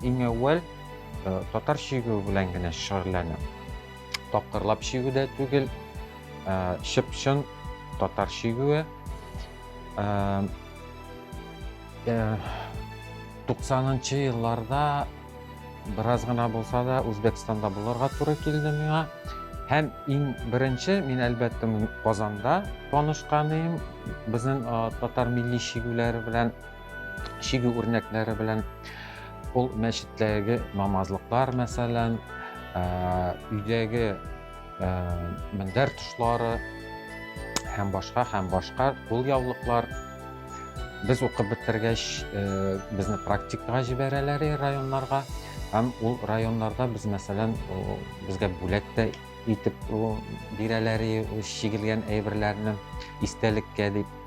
Иң әүвәл э, татар чигү белән генә шөгыльләнәм. Тапкырлап чигү дә түгел, э, чып-чын татар чигүе. Э, 90-нчы э, елларда бераз гына булса да Үзбәкстанда булырга туры килде миңа. Һәм иң беренче мин әлбәттә Казанда танышкан идем. Безнең татар милли шигүләре белән, шигү үрнәкләре белән ул мәчеттәге намазлыклар мәсәлән, өйдәге мендәр тышлары һәм башка һәм башка кул яулыклар без укып бетергәч безне практикага җибәрәләр районнарга һәм ул районнарда без мәсәлән безгә бүләк тә итеп бирәләр чигелгән әйберләрне истәлеккә дип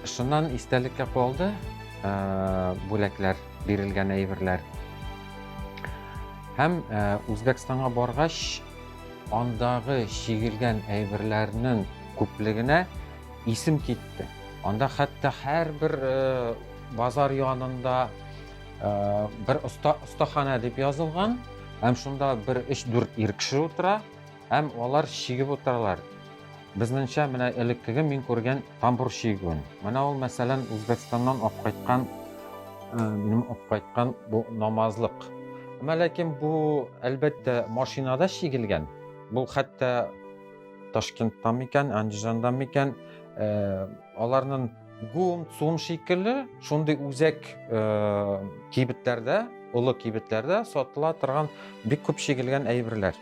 шуннан истәлеккә калды бүләкләр бирелгән әйберләр. Һәм э, Үзбәкстанга баргач, андагы чигелгән әйберләрнең күплегенә исем китте. Анда хәтта һәрбер э, базар янында э, бер остахана дип язылган, һәм шунда бер 3-4 ир кеше утыра. Һәм алар чигеп утыралар. Безнеңчә, менә элеккеге мин күргән тамбур чигүен. Менә ул, мәсәлән, Үзбәкстаннан алып кайткан, э, минем алып кайткан бу намазлык. Әмма ләкин бу, әлбәттә, машинада чигелгән. Бу хәтта Ташкенттан микән, Андижандан микән, э, аларның Гум, Цум шикелле шундый үзәк э, кибетләрдә, олы кибетләрдә сатыла торган бик күп чигелгән әйберләр.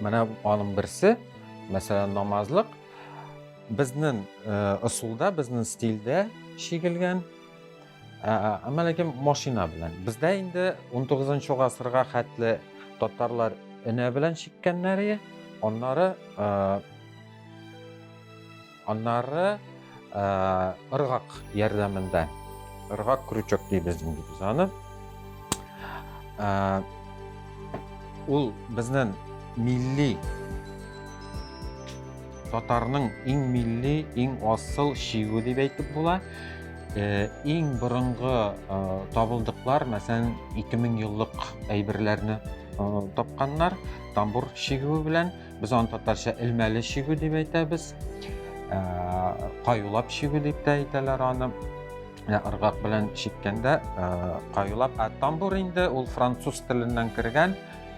Менә аның берсе, мәсәлән, намазлык. Безнең э, ысулда, безнең стильдә чигелгән. Ә, әмма ләкин машина белән. Бездә инде 19 гасырга хәтле татарлар энә белән чиккәннәре, аннары э, Аннары ыргак ярдәмендә, ыргак крючок дибез инде без аны. Ул безнең милли татарның иң милли, иң асыл шигү дип әйтеп була. Э, иң борынгы э, табылдыклар, мәсәлән, 2000 еллык әйберләрне э, тапканнар, тамбур шигүе белән. Без аны татарча элмәле чигү дип әйтәбез. Ә, каюлап чигү дип тә әйтәләр аны. Ә, ыргак белән чиккәндә ә, каюлап. Ә тамбур инде ул француз теленнән кергән.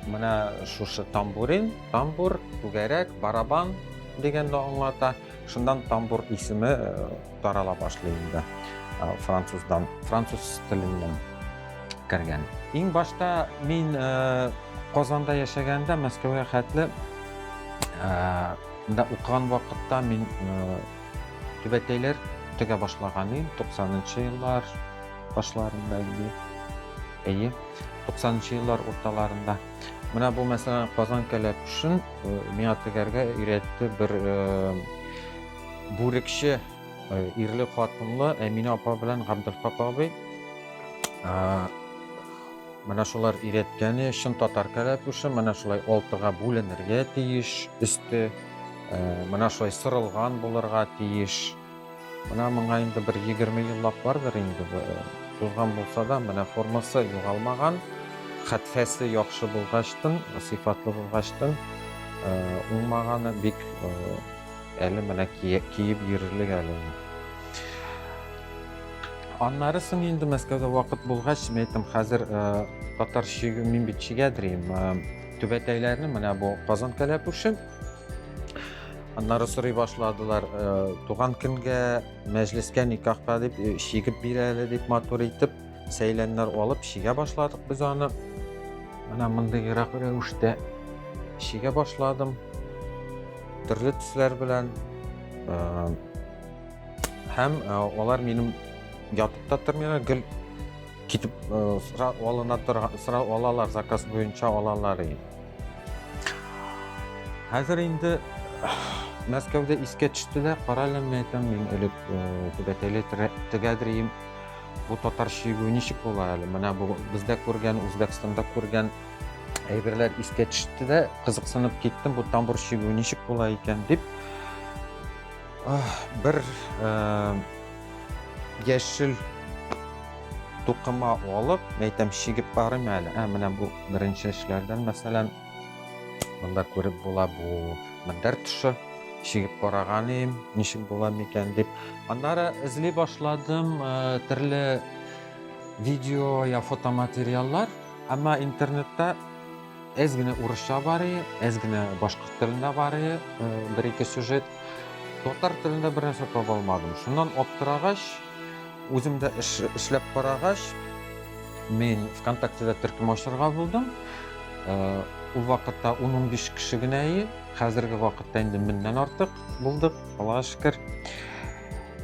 Менә шушы тамбурин, тамбур, түгәрәк, барабан дигәнне аңлата. Шуннан тамбур исеме тарала башлый инде француздан, француз теленнән кергән. Иң башта мин Казанда яшәгәндә, Мәскәүгә хәтле да укыган вакытта мин түбәтәйләр тегә башлаган идем, 90-нчы еллар башларында инде. Әйе, 90-нчы еллар урталарында. Менә бу мәсәлән Казан кәләпүшен миңа тегәргә өйрәтте бер Бүрекче ирле хатынлы Әминә апа белән Габделхак абый. Менә шулар өйрәткәне чын татар кәләпүше, менә шулай алтыга бүленергә тиеш, өсте менә шулай сырылган булырга тиеш. Менә моңа инде бер 20 еллап бардыр инде. Тузган булса да, менә формасы югалмаган, хәтфәсе яхшы булгачтын, сыйфатлы булгачтын, уңмаганы бик Әле менә киеп йөрерлек әле. Аннары соң инде Мәскәүдә вакыт булгач, мин әйттем, хәзер э, татар чиге, мин бит чигәдрим. Э, Түбәтәйләрне менә бу Казан кәләпүшем. Аннары сорый башладылар, э, туган көнгә мәҗлескә никахка дип чигеп бирәле дип матур итеп. Сәйләннәр алып чигә башладык без аны. Менә мондыйрак рәвештә чигә башладым. Төрле төсләр белән. Һәм алар минем ятып та тормыйлар, гел китеп сра алына торган, сра алалар, заказ буенча алалар. Хәзер инде Мәскәүдә искә төште дә, карале, мәйтәм, мин элек түбәтәйле тегәдрием. Бу татар чигү ничек була әле? Менә бу бездә күргән, Үзбәкстанда күргән әйберләр искә төште дә, кызыксынып киттем, бу тамбур чигү ничек була икән дип. Бер э, яшел тукыма алып, мәйтәм чигеп карыйм әле. Ә менә бу беренче эшләрдән, мәсәлән, Монда күреп була бу мендәр төшө. Чигеп караган идем, ничек була микән дип. Аннары эзли башладым э, төрле видео я фотоматериаллар. Әмма интернетта әз генә урысча бар, әз генә башкорт телендә бар, э, бер-ике сюжет. Татар телендә бер нәрсә таба алмадым. Шуннан аптырагач, Үзем дә эш эшләп карагач, мин ВКонтактеда төркем ачарга булдым. Э, ул вакытта 10-15 кеше генә ие, хәзерге вакытта инде меңнән артык булдык, Аллаһ шөкер.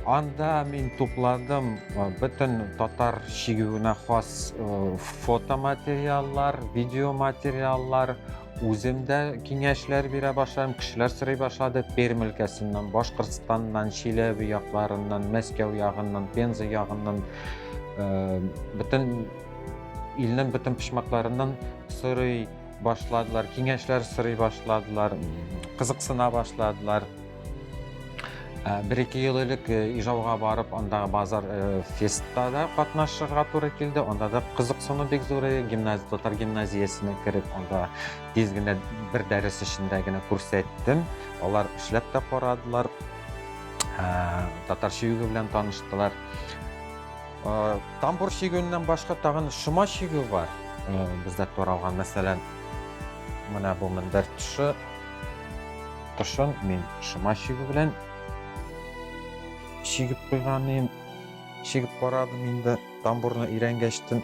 Анда мин тупладым э, бөтен татар шигүенә хас э, фотоматериаллар, видеоматериаллар, Үзем дә киңәшләр бирә башладым, кешеләр сорый башлады. Пермь өлкәсеннән, Башкортстаннан, Чиләбе якларыннан, Мәскәү ягыннан, Пенза ягыннан, э, бөтен илнең бөтен почмакларыннан сорый башладылар, киңәшләр сорый башладылар, кызыксына башладылар. Ә, Бер-ике ел элек э, Ижауга барып, андагы базар э, фестта да катнашырга туры килде. Анда да кызыксыну бик зур иде. Гимназ, татар гимназиясенә кереп, анда тиз генә бер дәрес эчендә генә күрсәттем. Алар эшләп тә карадылар. Ә, Татар чигүе белән таныштылар. Ә, Тамбур чигүеннән башка тагын шома чигү бар. Ә, Бездә таралган, мәсәлән, менә бу мендәр төше Тышын мин шыма чигү белән чигеп куйган идем. Чигеп карадым инде, тамбурны өйрәнгәчтен.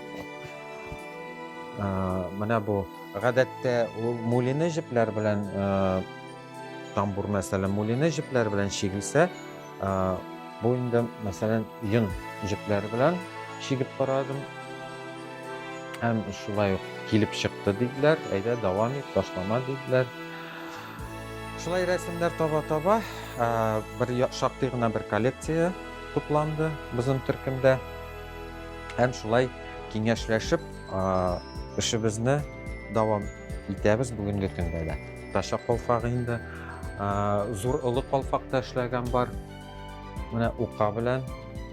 Менә бу гадәттә ул мулины җепләр белән тамбур мәсәлән мулины җепләр белән чигелсә, бу инде мәсәлән йон җепләр белән чигеп карадым. Һәм шулай ук килеп чыкты диделәр. Әйдә, дәвам ит, ташлама диделәр. Шулай рәсемнәр таба-таба бер шактый гына бер коллекция тупланды безнең төркемдә. Һәм шулай киңәшләшеп эшебезне дәвам итәбез бүгенге көндә дә. Таша калфагы инде зур олы калфакта эшләгән бар. Менә ука белән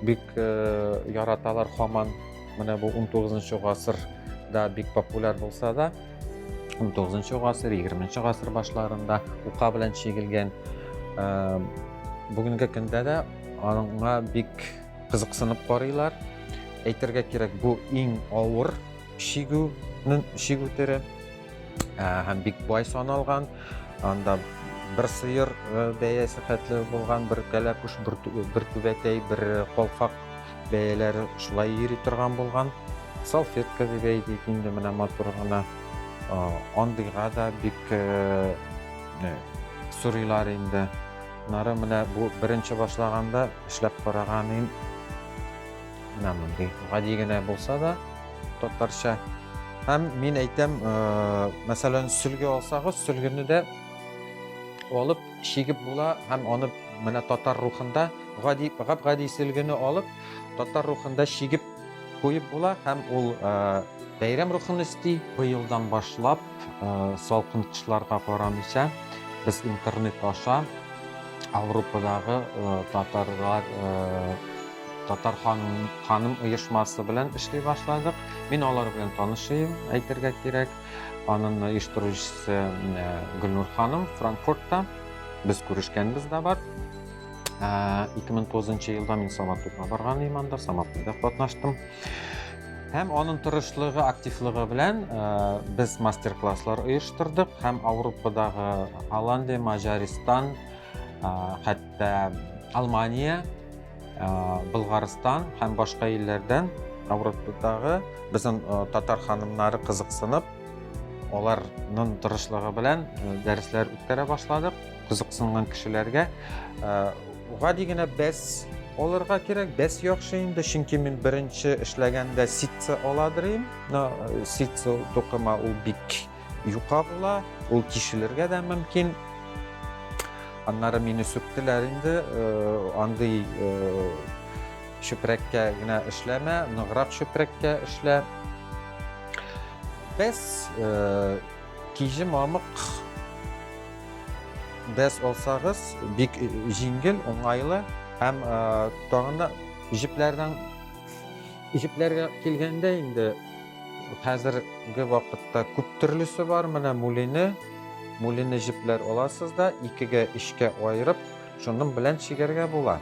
бик э, яраталар хаман. Менә бу 19 гасырда бик популяр булса да, 19 гасыр, 20 гасыр башларында ука белән чигелгән. Бүгенге көндә дә аңа бик кызыксынып карыйлар. Әйтергә кирәк, бу иң авыр чигүнең чигү төре һәм бик бай саналган. Анда бер сыер бәясе хәтле булган, бер кәләпүш, бер түбәтәй, бер колфак Бәяләре шулай йөри торган булган. Салфетка дип әйтик инде менә матур гына. Андыйга да бик сорыйлар инде. Нары менә бу беренче башлаганда эшләп караганым менә мондый гади генә булса да татарча һәм мин әйтәм мәсәлән сөлге алсагыз сөлгене дә алып Чигеп була һәм аны менә татар рухында гади гап-гади сөлгене алып, татар рухында чигеп куеп була һәм ул бәйрәм рухын өсти. Быелдан башлап, салкын кышларга карамыйча, без интернет аша Авропадагы татарлар татар ханым оешмасы белән эшли башладык. Мин алар белән танышыйм, әйтергә кирәк. Аның оештыручысы Гөлнур ханым Франкфуртта. Без күрешкәнбез дә бар. 2009 елда мин Саматовка барган идем анда, Саматовда катнаштым. Һәм аның тырышлыгы, активлыгы белән без мастер-класслар оештырдык һәм Ауропадагы Голландия, Маҗаристан, хәтта Алмания Болгарстан һәм башка илләрдән Европадагы безнең татар ханымнары кызыксынып, аларның тырышлыгы белән дәресләр үткәрә башладык. Кызыксынган кешеләргә гади генә бәс алырга кирәк. Бәс яхшы инде, чөнки мин беренче эшләгәндә ситца аладыр идем. Ситца тукыма ул бик Юка була, ул тишелергә дә мөмкин. Аннары мине сүктеләр инде, андый чүпрәккә генә эшләмә, ныграк чүпрәккә эшлә. Без киҗе мамык без алсагыз, бик җиңел, уңайлы һәм тагын да җепләрдән Җепләргә килгәндә инде хәзерге вакытта күп төрлесе бар. Менә мулине, мулине җепләр аласыз да, икегә, өчкә аерып, шуның белән чигәргә була.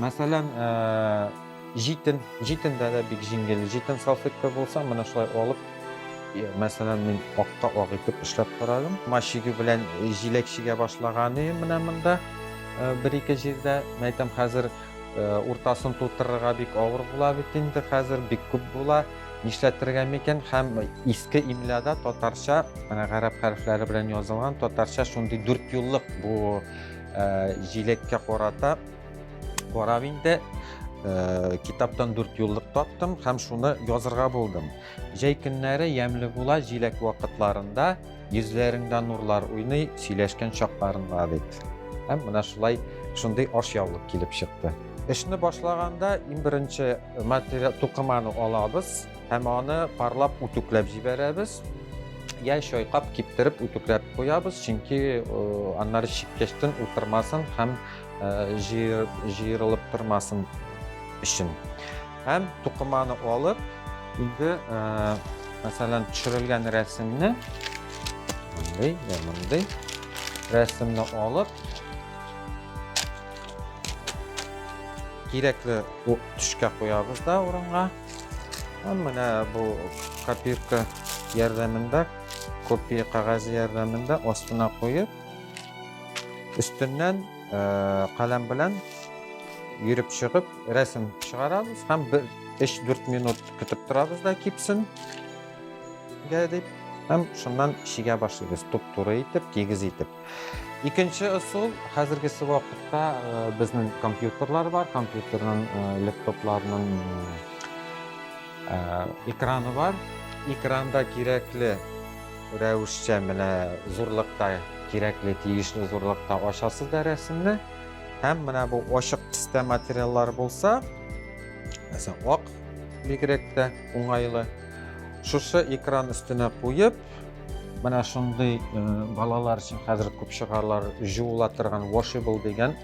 Мәсәлән, җитен, җитендә дә бик җиңел. Җитен салфетка булса, менә шулай алып, мәсәлән, мин акка ак итеп эшләп карадым. Машиге белән җиләк чигә башлаган өем менә монда бер-ике җирдә. Мәйтәм хәзер Уртасын тутырырга бик авыр була бит инде хәзер, бик күп була. Нишләтергә микән? Һәм иске имляда татарча, менә гарәп хәрефләре белән язылган, татарча шундый дүрт юллык бу э, җилеккә карата карап инде э, китаптан дүрт юллык таптым һәм шуны язырга булдым. Җәй көннәре ямьле була, җиләк вакытларында Йөзләреңдә нурлар уйный, сөйләшкән чакларында бит. Һәм менә шулай шундый ашъяулык килеп чыкты. Эшне башлаганда иң беренче материал тукыманы алабыз һәм аны парлап үтүкләп җибәрәбез. Яй чайкап, киптереп үтүкләп куябыз, чөнки аннары чиккәчтен утырмасын һәм җыерылып тормасын өчен. Һәм тукыманы алып, инде, мәсәлән, төшерелгән рәсемне, мондый, я мондый, рәсемне алып, кирәкле төшкә куябыз да урынга. Һәм менә бу копирка ярдәмендә, копия кәгазе ярдәмендә астына куеп, өстеннән Каләм белән йөреп чыгып, рәсем чыгарабыз һәм бер 3-4 минут көтеп торабыз да кипсен. Гә дип, һәм шуннан шигә башлыйбыз, туп-туры итеп, тигез итеп. Икенче ысул, хәзерге вакытта безнең компьютерлар бар, компьютерның, лептопларның экраны бар. Экранда кирәкле Рәвешчә менә зурлыкта, кирәкле, тиешле зурлыкта ачасыз да рәсемне. Һәм менә бу ачык төстә материаллар булса, мәсәлән, ак бигрәк тә уңайлы. Шушы экран өстенә куеп, менә шундый э, балалар өчен хәзер күп чыгарлар җуыла торган washable дигән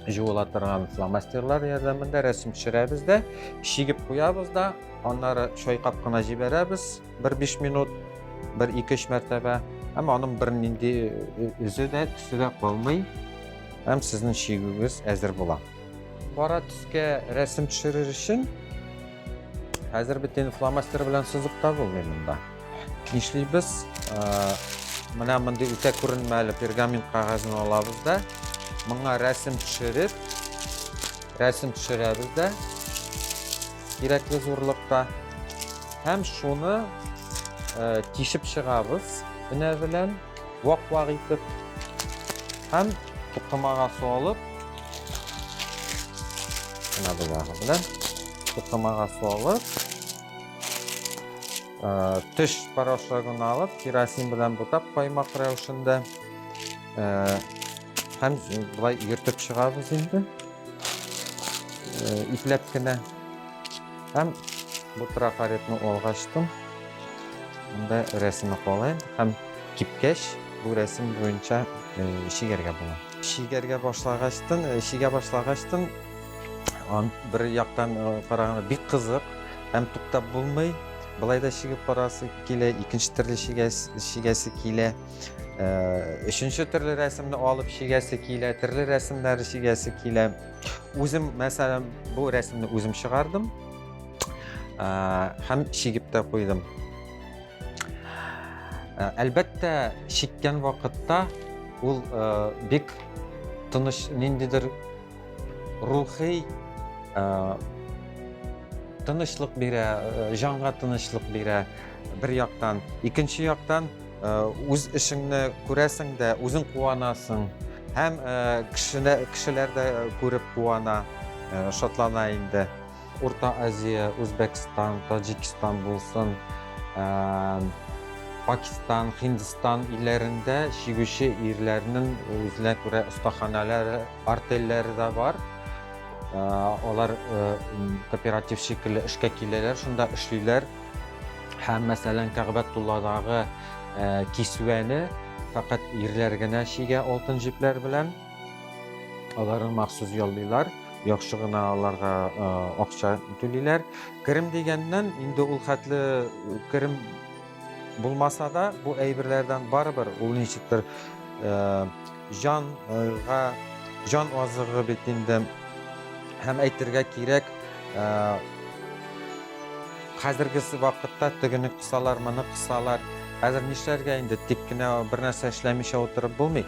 җуыла торган фломастерлар ярдәмендә рәсем төшерәбез дә, чигеп куябыз да, аннары чайкап кына җибәрәбез. бер биш минут, бер ике-өч мәртәбә. Әмма аның бернинди үзе дә, төсе дә калмый. Һәм сезнең чигүегез әзер була. Кара төскә рәсем төшерер өчен хәзер бит инде фломастер белән сызып та булмый монда. Нишлибез? Менә мондый үтә күренмәле пергамент кагазын алабыз да, моңа рәсем төшереп, рәсем төшерәбез дә. кирәкле зурлыкта. Һәм шуны э, тишеп чыгабыз өнә белән, вак-вак итеп. Һәм тукымага су алып, менә бу ягы белән тукымага су алып, э, төш порошогын алып, керосин белән бутап каймак рәвешендә э, һәм былай йөртеп чыгабыз инде. Э, ипләп кенә һәм бу трафаретны алга ачтым анда рәсеме калай һәм кипкәч бу рәсем буенча э, шигәргә була шигәргә башлагачтын э, шигә башлагачтын бер яктан караганда бик кызык һәм туктап булмый былай да шигеп карасы килә икенче төрле шигәсе килә өченче төрле рәсемне алып чигәсе килә төрле рәсемнәр чигәсе килә үзем мәсәлән бу рәсемне үзем чыгардым һәм чигеп тә куйдым әлбәттә чиккән вакытта ул бик тыныч ниндидер рухи тынычлык бирә җанга тынычлык бирә бер яктан икенче яктан үз эшеңне күрәсең дә үзең куанасың һәм кешеләр дә күреп куана шатлана инде урта азия үзбәкстан таҗикстан булсын пакистан һиндстан илләрендә чигүче ирләрнең үзенә күрә остаханалары артельләре дә бар алар кооператив шикелле эшкә киләләр шунда эшлиләр Һәм, мәсәлән, Кәгъбәтулладагы кисүәне фәкать ирләр генә чигә алтын җепләр белән. Аларны махсус яллыйлар, яхшы гына аларга акча түлиләр. Керем дигәннән, инде ул хәтле керем булмаса да, бу әйберләрдән барыбер ул ничектер җанга җан азыгы бит инде. Һәм әйтергә кирәк, Хәзерге вакытта тегене кысалар, моны кысалар. Хәзер нишләргә инде, тик кенә бернәрсә эшләмичә утырып булмый.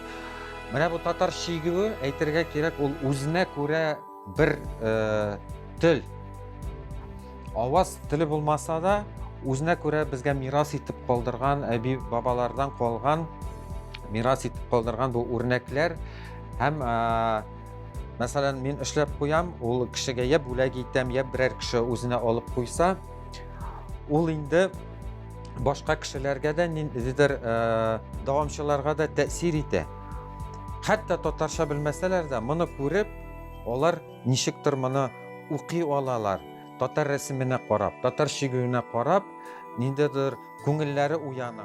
Менә бу татар чигүе, әйтергә кирәк, ул үзенә күрә бер тел. Аваз теле булмаса да, үзенә күрә безгә мирас итеп калдырган, әби бабалардан калган мирас итеп калдырган бу үрнәкләр һәм Мәсәлән, мин эшләп куям, ул кешегә я бүләк итәм, я берәр кеше үзенә алып куйса, ул инде башка кешеләргә дә ниндидер э, дәвамчыларга да тәэсир итә. Хәтта татарча белмәсәләр дә, моны күреп, алар ничектер моны укый алалар. Татар рәсеменә карап, татар шигүенә карап, ниндидер күңелләре уяна.